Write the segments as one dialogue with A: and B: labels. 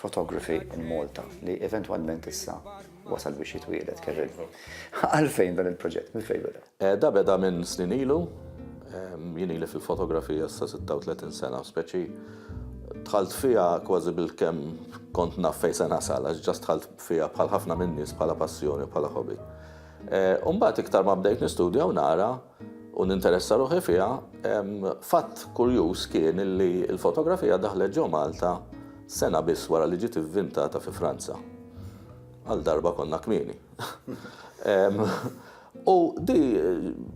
A: Photography in Malta, li eventwalment issa wasal biex jitwieled, Kevin. Għalfejn dan il-proġett, mill-fejn beda? Eh, da beda minn snin ilu, ehm, jien ili fil-fotografija sa 36 sena, speċi tħalt fija kważi bil-kem kont naf fej se nasal, għax ġast tħalt fija bħal ħafna minn nies bħala passjoni, bħala hobby. Eh, Umbat iktar ma bdejt nistudja u nara u ninteressa ruħi fiha, fatt kurjuż kien li l-fotografija daħlet ġo Malta sena biss wara li ġiet ivvintata fi Franza. Għal darba konna kmieni. U di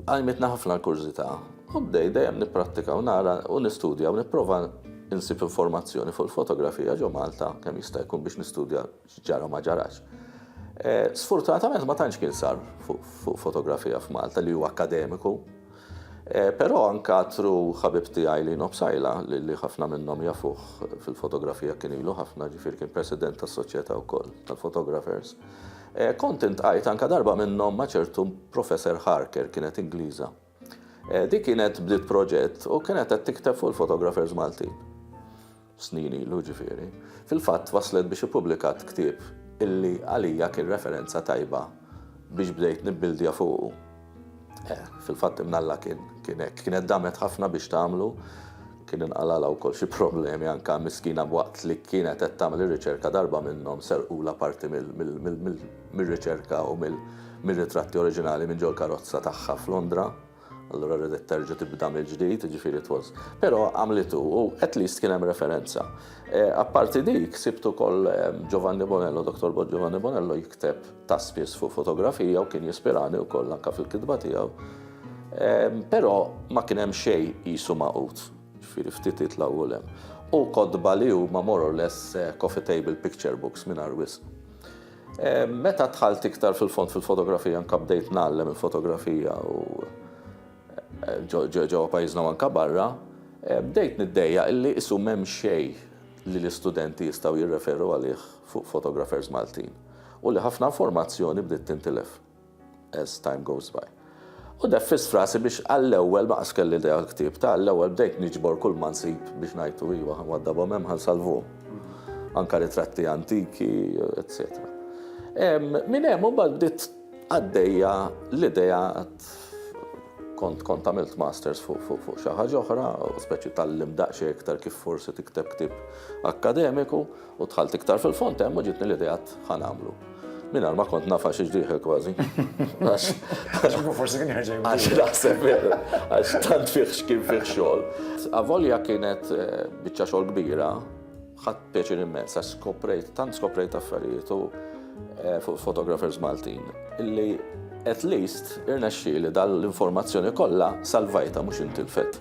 A: għajmitna ħafna l-kurżità. U bdej dejjem nipprattika u nara u nistudja u nipprova insib informazzjoni fuq il-fotografija ġo Malta kemm jista' jkun biex nistudja X'ġara u ma ġarax. Sfortunatament ma tantx kien sar fuq fotografija f'Malta li hu akkademiku. Però nkatru ħabib tiegħi Lino Psaila li ħafna minnhom jafuh fil-fotografija kien ilu ħafna ġifieri kien president tas-soċjetà wkoll tal-photographers. Kont intqajt anke darba minnhom ma' ċertu Professor Harker kienet Ingliża. Di kienet bdiet proġett u kienet qed tikteb fuq il-fotographers Maltin. Snin ilu ġifieri. Fil-fatt waslet biex ippubblikat ktieb illi għalija kien referenza tajba biex bdejt nibbildja fuqu. Eh, fil-fatt imnalla kien, kien hekk. Kienet damet ħafna biex tagħmlu. Kien inqalgħalha wkoll xi problemi anke għall-miskina b'waqt li kienet qed tagħmel ir-riċerka darba minnhom serqulha parti mir-riċerka u mir-ritratti oriġinali minn ġol-karozza tagħha f'Londra. Allura ridet terġa' tibda mill-ġdid, jiġifieri it was. Però għamlitu u at least kien hemm referenza. Apparti dik, sibt ukoll Giovanni Bonello, Dottor Bod Giovanni Bonello jikteb ta' spiss fuq fotografija u kien jispirani wkoll anke fil-kitba tiegħu. Però ma kien hemm xejn qisu magħqud, ġifieri ftit itlgħa u hemm. U kotba li huma more or less coffee table picture books mingħajr wisq. Meta dħalt iktar fil-fond fil-fotografija anke bdejt ngħallem il-fotografija u ġewwa pajjiżna u anke barra, bdejt niddejjaq illi qisu m'hemm xejn li l-istudenti jistgħu jirreferu għalih fuq photographers Maltin u li ħafna informazzjoni bdiet tintilef. as time goes by. U neffiss frasi biex għall-ewwel ma qas kelli idea l-ktieb ta' għall-ewwel bdejt niġbor kull ma nsib biex ngħidu iwa ħanwaddabhom hemm ħansalvuhom. Anka ritratti antiki, etc. Minn hemm imbagħad bdiet għaddejja l-idea kont kont għamilt masters fuq fuq fuq xi ħaġa oħra, speċi tal-limdaqxie iktar kif forsi tikteb ktieb akkademiku, U dħalt iktar fil-fond hemm u ġietni l-idea ħa nagħmlu. Mingħajr ma kont nafa xi ġdieħel kważi. Forsi kien ħerġej. Għax naħseb għax tant fih x'kien fih xogħol. Avolja kienet eh, biċċa xogħol kbira, ħadd pjaċir immens għax skoprejt, tant skoprejt affarijiet u eh, fuq fotografers Maltin illi at least irnexxi li dal-informazzjoni kollha salvajta mhux intilfet.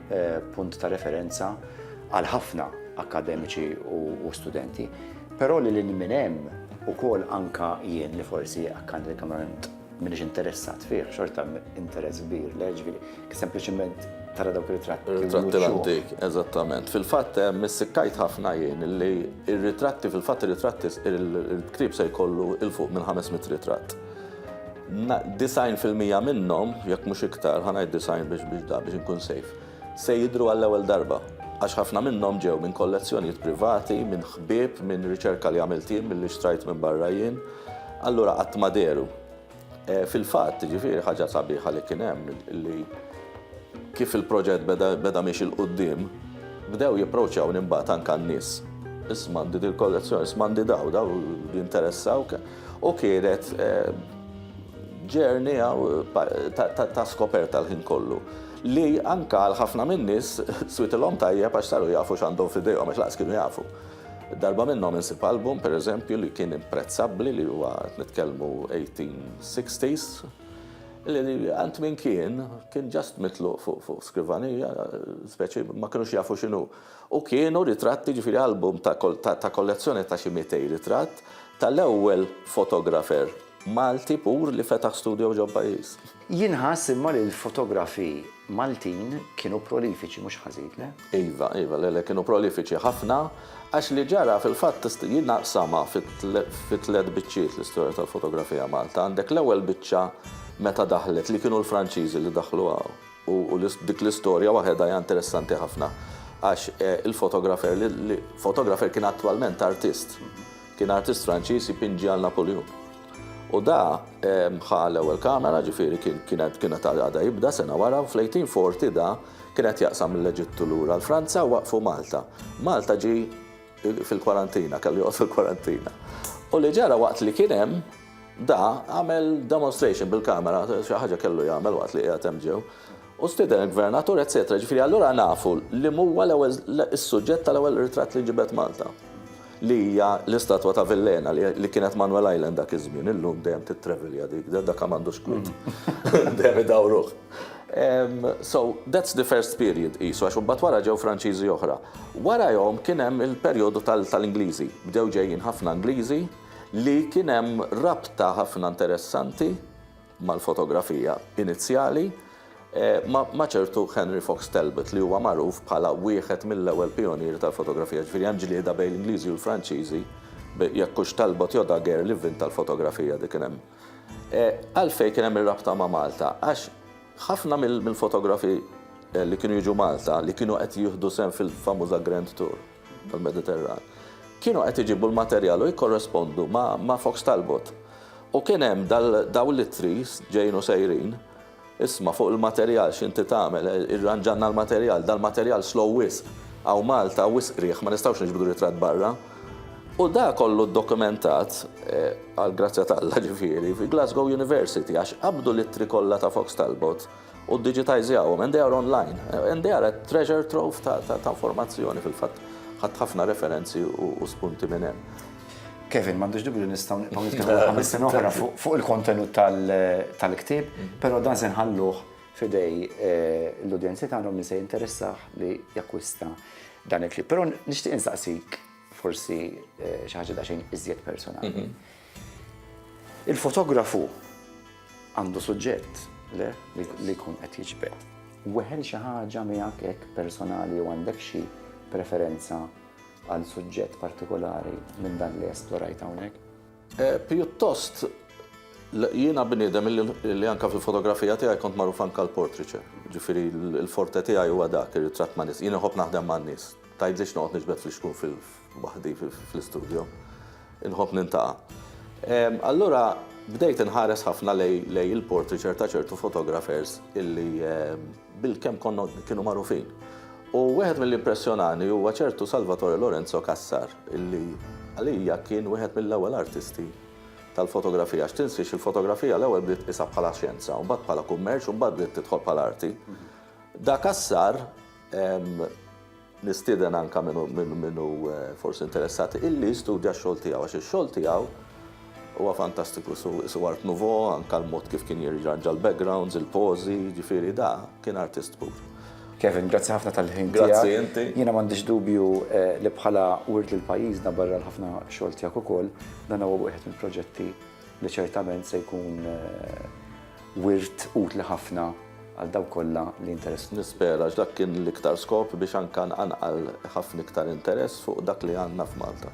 A: punt ta' referenza għal ħafna akkademiċi u studenti, però lil hinn minn hemm ukoll anke jien li forsi akkademikament m'iniex interessat fih, xorta interess kbir lejh, ġifieri kien sempliċement tara dawk ir-ritratti. Ir-ritratti l-antik, eżattament. Fil-fatt missikkajt ħafna jien li r-ritratti, fil-fatt ir-ritratti, il-ktieb se jkollu il-fuq minn 500 ritratt. 90 fil-mija minnhom, jekk mhux iktar, ħa ngħid 90 biex biex da biex inkun sejf, se jidhru għall-ewwel darba, għax ħafna minnhom ġew minn kollezzjonijiet privati, minn ħbieb, minn riċerka li għamilt jien, milli xtrajt minn barra jien, allura qatt ma dehru. Fil-fatt, jiġifieri, ħaġa sabiħa li kien hemm li kif il-proġett beda beda miexi 'l quddiem, bdew jipproċjawni mbagħad anke n-nies. Isma' għandi dil-kollezzjoni, isma' għandi daw, daw jinteressawk? U kienet journey ta' skoperta l-ħin kollu. Li anke għal ħafna min-nies switilhom tajjeb għax saru jafu x'għandhom f'idejhom għax lanqas kienu jafu. Darba minnhom insib album, per eżempju, li kien imprezzabbli li huwa qed nitkellmu 1860s, li għand min kien, kien just mitluq fuq skrivanija, speċi ma kinux jafu x'inhu. u kienu ritratti jiġifieri album ta' ta' kollezzjoni ta' xi mitej ritratt tal-ewwel fotografer Malti pur li fetaħ studio ġo pajjiż. Jien nħass imma li l-fotografi Maltin kienu prolifiċi mhux ħażin, le? Iva, iva, le, le, kienu prolifiċi ħafna għax li ġara fil-fatt tista' jien naqsamha fi fi tliet biċċiet l-istorja tal-fotografija Malta. Għandek l-ewwel biċċa meta daħlet li kienu l-Franċiżi li daħlu hawn. U dik l-istorja waħedha hija interessanti ħafna għax il-fotografer li fotografer kien attwalment artist. Kien artist Franċiż jpinġi għal Napoleon. U da ħa l-ewwel kamera, ġifieri kienet kienet għadha jibda sena wara u fl-1840 da kien qed jaqsam mill-Eġittu lura l-Franza u waqfu Malta. Malta ġie fil-kwarantina, kellu joqgħod fil-kwarantina. U li ġara waqt li kien hemm, Da għamel demonstration bil-kamera, xi ħaġa kellu jagħmel waqt li qiegħed hemm ġew. U stieden il-gvernatur, eċetera. Ġifieri allura nafu li huwa l-ewwel is-suġġett tal-ewwel ritratt li ġibed Malta. Li hija l-istatwa ta' Villena li kienet Manuel Island dak iż-żmien, illum dejjem titrevilja dik, dak m'għandux kwiet. Dejjem idawruh. So, that's the first period qisu, għax imbagħad wara ġew Franċiżi oħra. Warajhom kien hemm il-perjodu tal-Ingliżi. Bdew ġejjin ħafna Ingliżi, li kien hemm rabta ħafna interessanti mal-fotografija inizjali ma' ċertu Henry Fox Talbot li huwa magħruf bħala wieħed mill-ewwel pijonieri tal-fotografija, jiġifieri hemm ġlieda bejn l-Ingliżi u l-Franċiżi jekk hux Talbot jew Daguerre li vvinta l-fotografija dik kien hemm. Għalfejn kien hemm ir-rabta ma' Malta? Għax ħafna mill-fotografi li kienu jiġu Malta li kienu qed jieħdu sehem fil-famuża Grand Tour, tal-Mediterran, kienu qed iġibu l-materjal u jikkorrespondu ma' Fox Talbot. U kien hemm dawn l-ittri ġejjin u sejrin, isma' fuq il-materjal x'inti tagħmel, irranġalna l-materjal, dal-materjal slow wisq, hawn Malta wisq riħ, ma nistgħux niġbdu ritratt barra. U dak kollu ddokumentat, għall-grazzja t'Alla ġifieri, fi Glasgow University għax qabdu l-ittri kollha ta' Fox Talbot. u ddiġitajżjawhom and they are online and they are a treasure trove ta' informazzjoni fil-fatt ħadd ħafna referenzi u spunti minn hemm. Kevin, m'għandux dubju li nistgħu nibqgħu nitkellmu ħames sena oħra fuq il-kontenut tal-ktieb, però dan se nħalluh f'idej eh, l-udjenzi tagħna min se jinteressah li jakkwista dan il-ktieb. Però nixtieq insaqsik forsi eh, xi ħaġa daqsxejn iżjed personali. Mhm. Il-fotografu għandu suġġett, le, li jkun qed jiġbed. Weħel xi ħaġa miegħek hekk personali jew għandek xi preferenza għal suġġett partikolari minn dan li esplorajt hawnhekk? Eh, pjuttost jiena bniedem li anka fil-fotografija tiegħi kont magħruf anka l-portriċe. Ġifieri l-forte tiegħi huwa dak ir-ritratt ma' nies. Jien iħobb naħdem ma' nies. Tgħidlix noqgħod niġbed fl-ixkun fil waħdi fl-istudio. Inħobb nintaqa'. Allura bdejt inħares ħafna lejn il-portraiture ta' ċertu photographers illi bil-kemm konna kienu magħrufin. U wieħed milli impressjonani huwa ċertu Salvatore Lorenzo Cassar illi għalija kien wieħed mill-ewwel artisti tal-fotografija. Għax tinsiex il-fotografija l-ewwel bdiet tqisha bħala xjenza, u mbagħad bħala kummerċ u mbagħad bdiet tidħol bħala arti. Da Cassar Nistieden anke min hu forsi interessat illi jistudja x-xogħol tiegħu għax ix-xogħol tiegħu huwa fantastiku isu art nouveau anke l-mod kif kien jirranġa l-backgrounds, il-pożi, jiġifieri da kien artist pur. Kevin, grazzi ħafna tal-ħin tiegħek. Grazzi inti. Jiena m'għandix dubju li bħala wirt lil pajjiżna barra l-ħafna xogħol tiegħek ukoll, dan huwa wieħed mill-proġetti li ċertament se jkun wirt utli ħafna għal dawk kollha li jinteressaw. Nispera għax dak kien l-iktar skop biex anke nqanqal ħafna iktar interess fuq dak li għandna f'Malta.